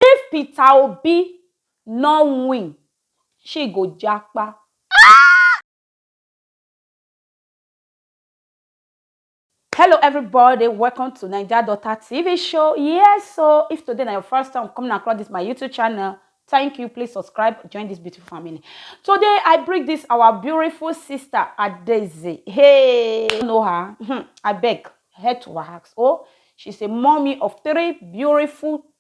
If Peter Obi no win, she go japa. Hello everybody, welcome to Naija Daughter TV show. Yes, so if today na your first time coming across this my YouTube channel, thank you. Please subscribe, join this beautiful family. Today I bring this our beautiful sister Adeze. Hey, you know her? Hmm, I beg, head to her ask. Oh, she's a mommy of three beautiful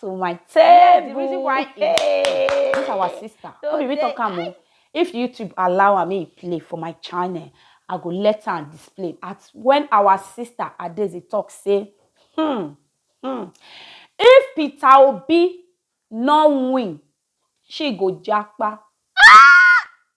to my table. the reason why hey. this our sister. So no be talk am o. If YouTube allow am make play for my channel, I go let am display. At when our sister Adeze talk say, hmm, hmm, if Peter Obi no win, she go japa. Ah!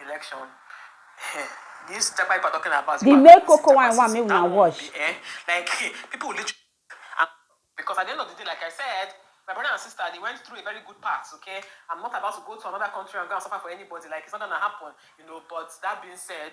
election eh, this type of people talking about the main cocoa wine one make una watch eh, like people will literally ah, because at the end of the day like i said my brother and sister they went through a very good path okay i'm not about to go to another country and go and suffer for anybody like it's not gonna happen you know but that being said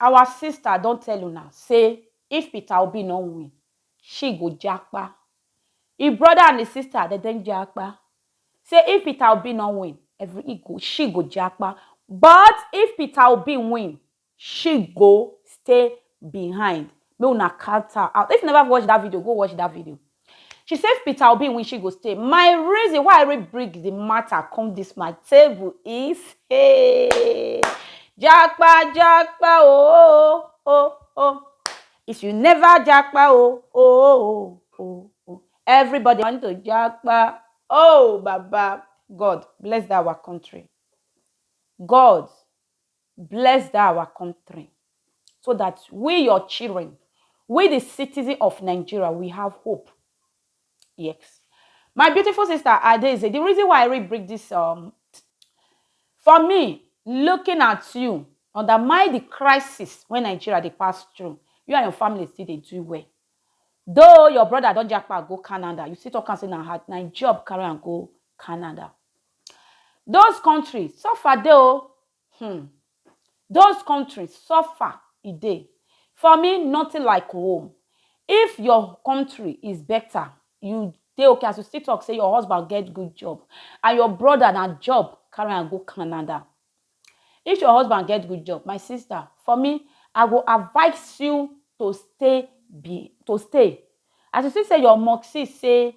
Our sister don tell una say if Peter Obi no win, she go japa. Im brother and im sister dem don japa say if Peter Obi no win, she go japa but if Peter Obi win, she go stay behind. Make una count am out. If you never watch that video, go watch that video. She say if Peter Obi win she go stay. My reason why I really bring the matter come this my table is hey japa japa oh oh oh if you never japa oh oh oh oh everybody want to japa oh baba God bless that our country God Bless dat our kontri so dat we your children, we di citizen of Nigeria we have hope. Yes my beautiful sister Adaeze di reason why I read bring dis um for me looking at you under my di crisis wey Nigeria dey pass through you and your family still dey do well though your brother don japa go Canada you still talk am say na hard na im job carry am go Canada. Those country suffer dey o hmm Those country suffer e dey For me nothing like home If your country is better you dey okay as you still talk say your husband get good job and your brother na job carry am go Canada If your husband get good job my sister for me I go advice you to stay be to stay As you see say your mumsy say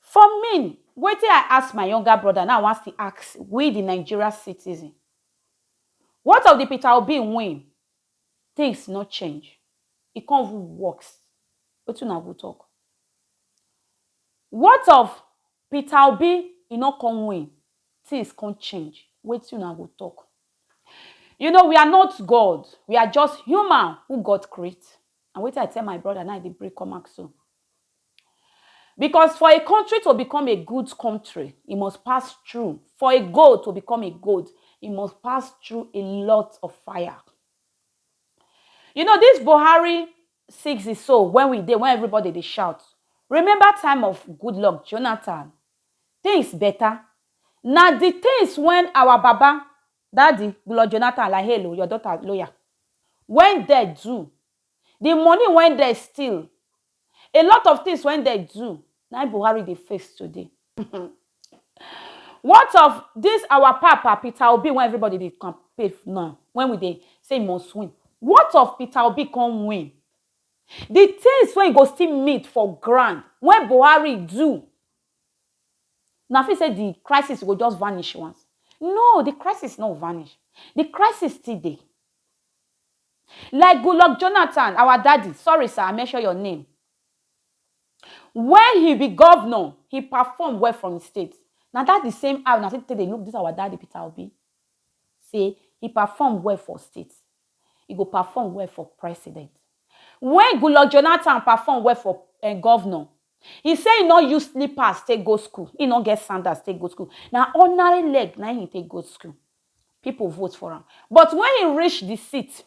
For min, wetin I ask my younger broda na I wan still ask we di Nigeria citizen. What of di Peter Obi win? Tins no change, e kon even worse. Wetin una go tok? What of Peter Obi e no kon win, tins kon change, wetin una go tok? You know we are not God, we are just human who God create and wetin I tell my broda na I dey bring come out so. Because for a country to become a good country, e must pass through. For a gold to become a gold, e must pass through a lot of fire. You know, this Buhari six is so when we dey, when everybody dey shout. Remember time of good luck, Jonathan. Things better. Now the things when our Baba, Daddy, Lord Jonathan, like hello, your daughter, lawyer, when they do, the money wey dem steal, a lot of things wey dem do, na im Buhari dey face today. What of this our papa Peter Obi wey everybody dey campaign now, wey we dey say he must win, what of Peter Obi come win, the things wey he go still meet for ground wey Buhari do, una fit say the crisis go just vanish once, no, the crisis no vanish, the crisis still dey. Like Goodluck Jonathan, our daddy, sorry sir, I mention your name, when he be governor, he perform well for him state. Na that the same eye una still take dey look this our daddy Peter Obi say he perform well for state, he go perform well for president. When Goodluck Jonathan perform well for um governor, he say he no use slippers take go school, he no get sandals take go school, na ordinary leg na him he take go school. Pipo vote for am, but wen e reach di seat,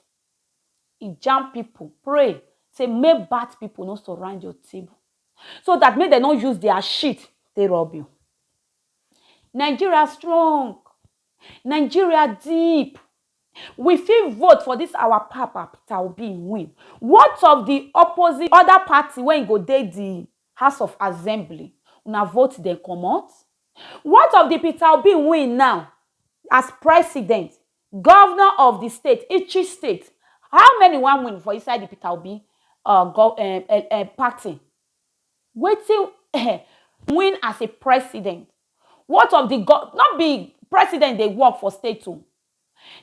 e jam pipo, pray say make bad pipo no surround your table, so dat make dem no use dia shit take rob you. Nigeria strong, Nigeria deep, we fit vote for dis our papa Peter Obi, e win, what of di opposite oda party wey e go dey di House of Assembly, una vote dem comot? What of di Peter Obi win now as president, govnor of di state, Ikchi state, how many wan win for inside di Peter Obi um party? Wetin um win as a president? What of di, no be president dey work for state o.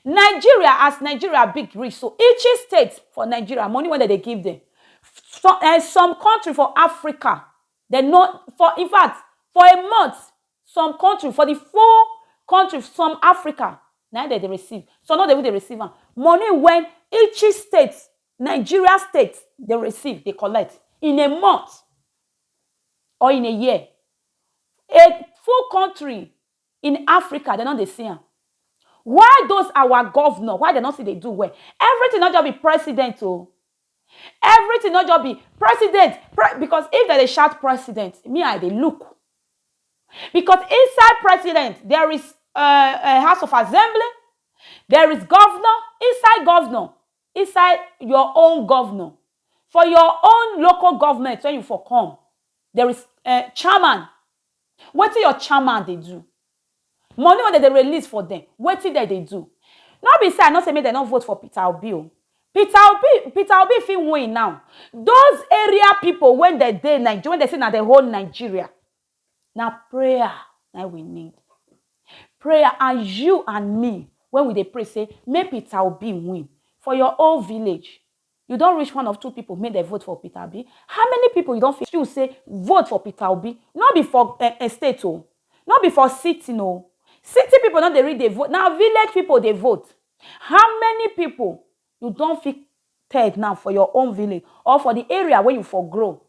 Nigeria as Nigeria big reach so, each state for Nigeria money wey dem dey give dem some um some country for Africa dem no for infact for a month some country for the full country some Africa na im dem dey receive some no dey even dey receive am money when each state Nigeria state dey receive dey collect in a month or in a year a full country In Africa dem no dey see am. Why those our governor why dem no still dey do well. Everything no just be president o. Everything no just be president pre because if dem dey shout president me I dey look because inside president there is um house of assembly, there is governor inside governor inside your own governor for your own local government when you for come there is um chairman wetin your chairman dey do money wey dem dey release for dem wetin dem dey do no be say i no say make dem no vote for peter obi o peter obi peter obi fit win now those area people wey dem dey nigeria wey dem say na dem hold nigeria na prayer na we need prayer and you and me when we dey pray say make peter obi win for your own village you don reach one of two people make dem vote for peter obi how many people you don fit you say vote for peter obi no be for uh, uh, state o oh. no be for city no oh. city people no dey read dey vote na village people dey vote how many people you don fit tell now for your own village or for the area where you for grow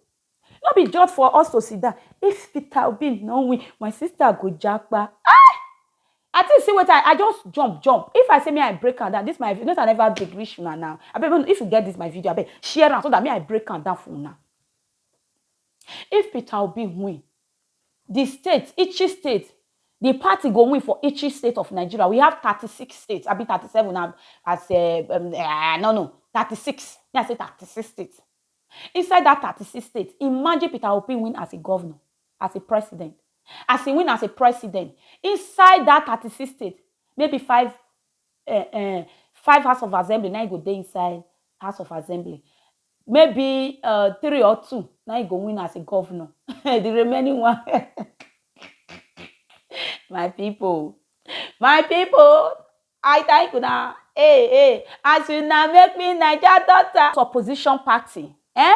No be just for us to sit down, if Peter Obi no win, my sister go japa. Hi! I think see wetin I, I just jump, jump. If I say me I break am down, this my not I never big reach una now. I bet if you get this my video, I bet share am so that me I break am down for una. If Peter Obi win, the state, each state, the party go win for each state of Nigeria. We have 36 states. I be 37 now as uh, um, uh, no no 36. Yeah, I say 36 states. Inside dat thirty six states, imagine Peter Obi win as a governor, as a president. As e win as a president, inside dat thirty six states, maybe five um um five house of assembly na im go dey inside house of assembly. Maybe um three or two na im go win as a governor. The remaining one my people, my people, I thank una eh eh as una make me Naija daughter. Opposition party eh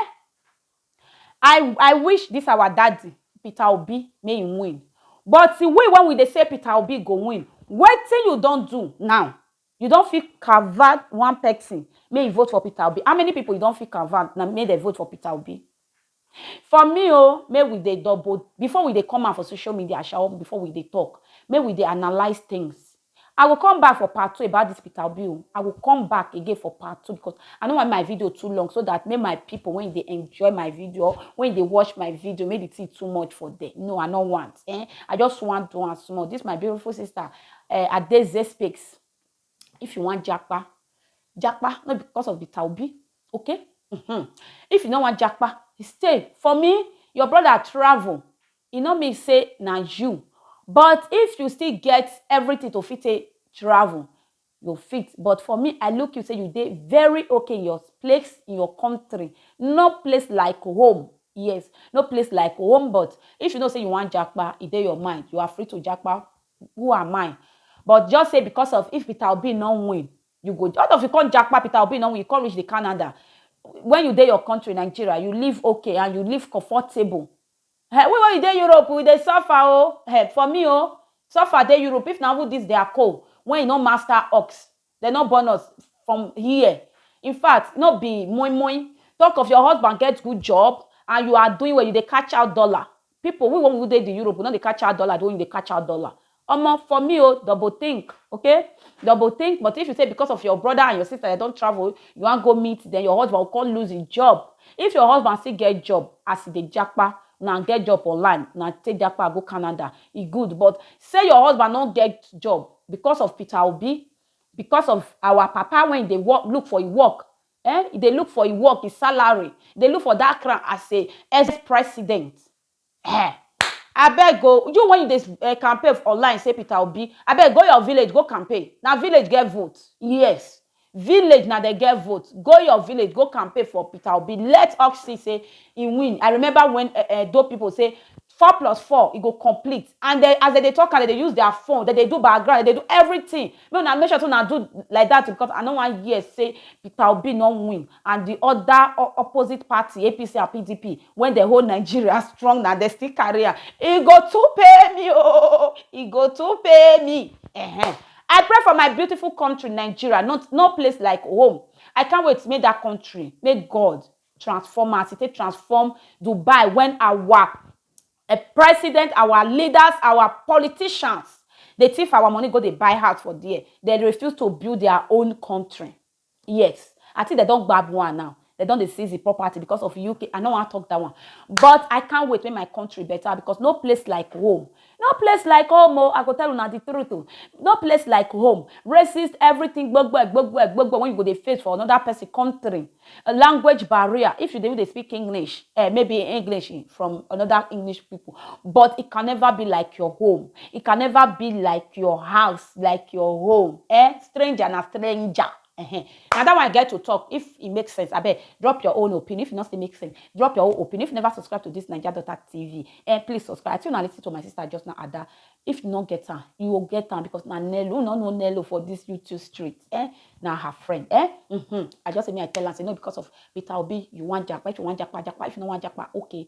I I wish this our daddy Peter Obi make him win but we when we dey say Peter Obi go win wetin you don do now you don fit convert one person make he vote for Peter Obi how many people you don fit convert make dem vote for Peter Obi For me o, make we dey double, before we dey come out for social media sha or before we dey talk, make we dey analyse things. I go come back for part two about this Peter Obi o, I go come back again for part two because I no want make my video too long so that make my people wey dey enjoy my video or wey dey watch my video, make the thing too much for them. No, I no want. Eh, I just want do am small. This my beautiful sister, eh, Adeze Speaks. If you wan japa, japa no be because of the taubi, okay? Mm-hmm. If you no wan japa, stay. For me, your brother travel. E no mean say na you. But if you still get everything to fit take travel, you fit. But for me, I look you say you dey very okay in your place, in your country. No place like home. Yes, no place like home. But if you know say you wan japa, e dey your mind. You are free to japa Who am I? But just say because of if Peter Obi no win, you go all of you come japa Peter Obi no win, you come reach the Canada. When you dey your country Nigeria, you live okay and you live comfortable. Hey, we wey you dey Europe, we dey suffer oh. Hey, for me oh, suffer dey Europe. If na who this their co, when you no master ox, Dem no born us from here In fact, no be moi moi Talk of your husband get good job And you are doing well, you dey catch out dollar People, we wey we dey the Europe We no dey catch out dollar the way you dey catch out dollar Omo, for me o, double think, ok Double think But if you say because of your brother and your sister dem don travel You wan go meet them Your husband go come lose him job If your husband still get job As e dey japa Una get job online Una take japa go Canada E good But say your husband no get job Because of Peter Obi, because of our papa wen dey work look for e work eh, e dey look for e work, e salary, e dey look for dat crown as a ex-president eh, abeg o, you wen you dey eh campaign online sey Peter Obi, abeg go your village go campaign, na village get vote, yes, Village na dem get vote, go your village go campaign for Peter Obi let ux see say he win, I remember when Edo people say four plus four e go complete and dem as dem dey talk am dem dey use their phone dem dey do background dem dey do everything make una make sure say una do like that o because I no wan hear say Peter Obi no win and the other opposite party APC and PDP when dem hold Nigeria strong na dem still carry am e go too pay me oo e go too pay me ehen. I pray for my beautiful country Nigeria no no place like home I can't wait make that country make God transform am as he take transform Dubai when our eh, president our leaders our politicians dey thief our money go dey buy house for there they refuse to build their own country. Yes I think dem don gbab one now dem don dey seize the property because of UK I no wan talk that one but I can't wait make my country better because no place like home no place like home oh I go tell una the truth oh no place like home racist everything gbogbo gbogbo gbogbo when you go dey face for another person country language barrier if you dey even dey speak English eh maybe English from another English people but it can never be like your home it can never be like your house like your home eh stranger na stranger uh-huh. na that one i get to talk if e make sense abeg drop your own opinion if e no still make sense drop your own opinion if you never subscribe to this naija daughter tv eh please subscribe i think una lis ten to my sister just now ada if you no get am you go get am because na nello una no nello for this youtube street eh na her friend eh mm-hmm. i just say me i tell am say no because of peter obi you wan japa if you wan japa japa if you no wan japa okay